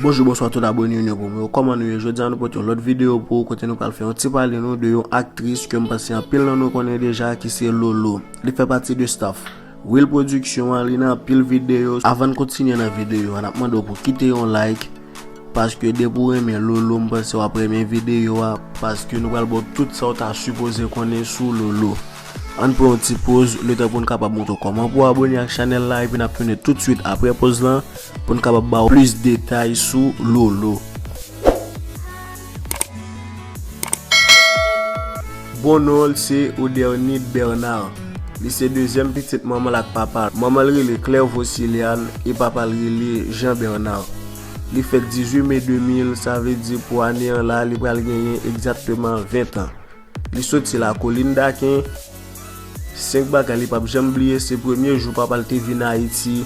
Bonjou bonswa tout abone yon yon pou mwen Koman nou yo jwè dyan nou pot yon lot video pou Kote nou pal fè yon ti pale nou de yon aktris Kèm pase yon pil nan nou konen deja ki se lolo Li fè pati de staff Wil production an li nan pil video Avan kontinye nan video an ap mande w pou kite yon like Paske depi ou renmen lolo m panse wap renmen video a paske nou pral baw tout sa ou ta sipoze konnen sou lolo Ann pran yon ti poz letan poun kapab montre w kòman pou w abone ak chanèl la epi nap tounen tout swit aprè poz lan poun kapab baw plis detay sou lolo. Bon non l se Odernied Bernard. Li se dezyèm pitit manman l ak papa l. Manman l rele Claire Vociliane e papa l rele Jean Bernard. Li fèt 18 me 2000, sa vle di pou ane an la li pral genyen egzakteman 20 tan. Li soti lakolin Daken, 5 bagay li pap janm bliye se premye jou papa l te vin Ayiti,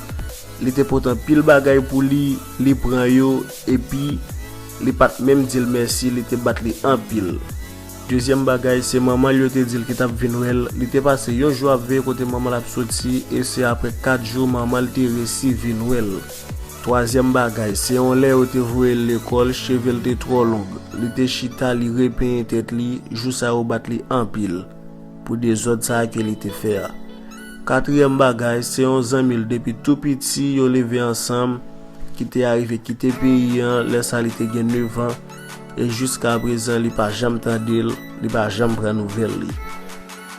li te pote anpil bagay pou li, li pran yo epi li pat menm di l mèsi li te bat li anpil. Dezyèm bagay se manman l yo te di l ki tap vin wè l, li te pase yon jou ap veye kote manman l ap soti e se aprè 4 jou manman l te resi vin wè l. Twazyèm bagay, se yon lè yo te voye l lekòl, cheve l te twò long. Li te chita, li repenyen tèt li, jou sa yo bat li anpil pou dezòd sa a ke li te fè a. Katriyèm bagay, se yon zanmi l depi tou piti, yo leve ansanm, ki te arive kite peyi an lè sa li te gen nevan, e jiskaprezan li pa janm tande l, li pa janm pran nouvèl li.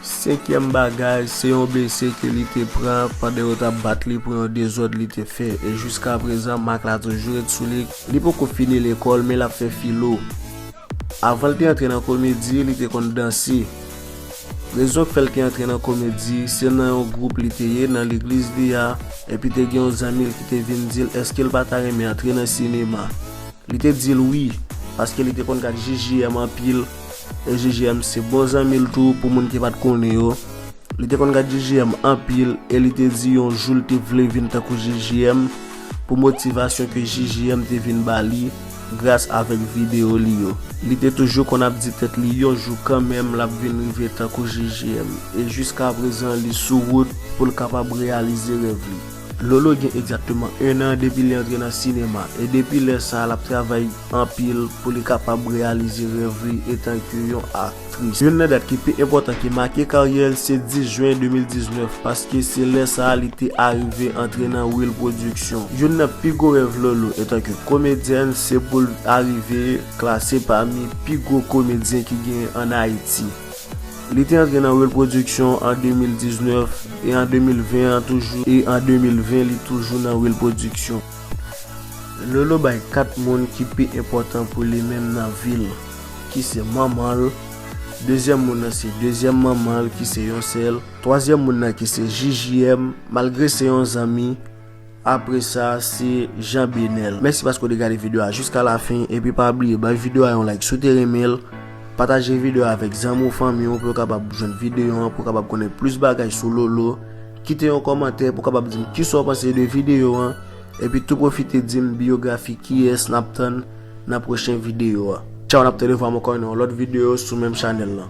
Senkyèm bagay, se yon blese ke li te pran pandan yo tap bat li pou yon dezòd li te fè, e jiska prezan mak la toujou ret sou li. Li poko fini lekòl men lap fè filo. Avan l te antre nan komedi, li te konn danse. Rezon k fè l te antre nan komedi, se nan yon gwoup li te ye nan legliz li a, epi te gen yon zanmi l ki te vin di l eske l pa ta renmen antre nan sinema. Li te di l wi, paske li te konn gad JJM anpil, JJM se bon zanmi l tou pou moun ki pat konnen yo. Li te konn gad JJM anpil e li te di yon jou l te vle vin tankou JJM pou motivasyon ke JJM te vin ba li gras avèk videyo li yo. Li te toujou konn ap di tèt li yon jou kanmenm l ap vin rive tankou JJM e jiskaprezan li sou wout pou l kapab reyalize rèv li. Lolo gen egzakteman 1 an depi li antre nan sinema e depi lè sa l ap travay anpil pou li kapab reyalize rèv li etanke yon aktris. Youn nan dat ki pi enpòtan ki make karyè l se 10 jen 2019 paske se lè sa li te arive antre nan Will Production. Youn nan pi gwo rèv Lolo etanke komedyèn se pou l arive klase pami pi gwo komedyen ki genyen an Ayiti. Li te antre nan rèl pwodiksyon an 2019 e an 2020 an toujou e an 2020 li toujou nan rèl pwodiksyon. Lolo bay 4 moun ki pi enpòtan pou li menm nan vi l, ki se manman l, dezyèm moun nan se dezyèm manman l ki se yon sè l, twazyèm moun nan ki se JJM malgre se yon zanmi, Apre sa se Jean Benel. Mèsi paske w te gade video a jiska la fin epi pa bliye bay video a yon like si w te renmen l, pataje video a avèk zanmi w fanmi w pou yo kapab jwenn video an pou yo kapab konnen plis bagay sou Lolo, kite yon kòmantè pou w kapab di m kisa w panse de video an epi tou pwofite di m biyografi kiyès nap tann nan pwochen video a. Tchaw nap tou revwa m ankò nan yon lòt video sou menm chanèl lan.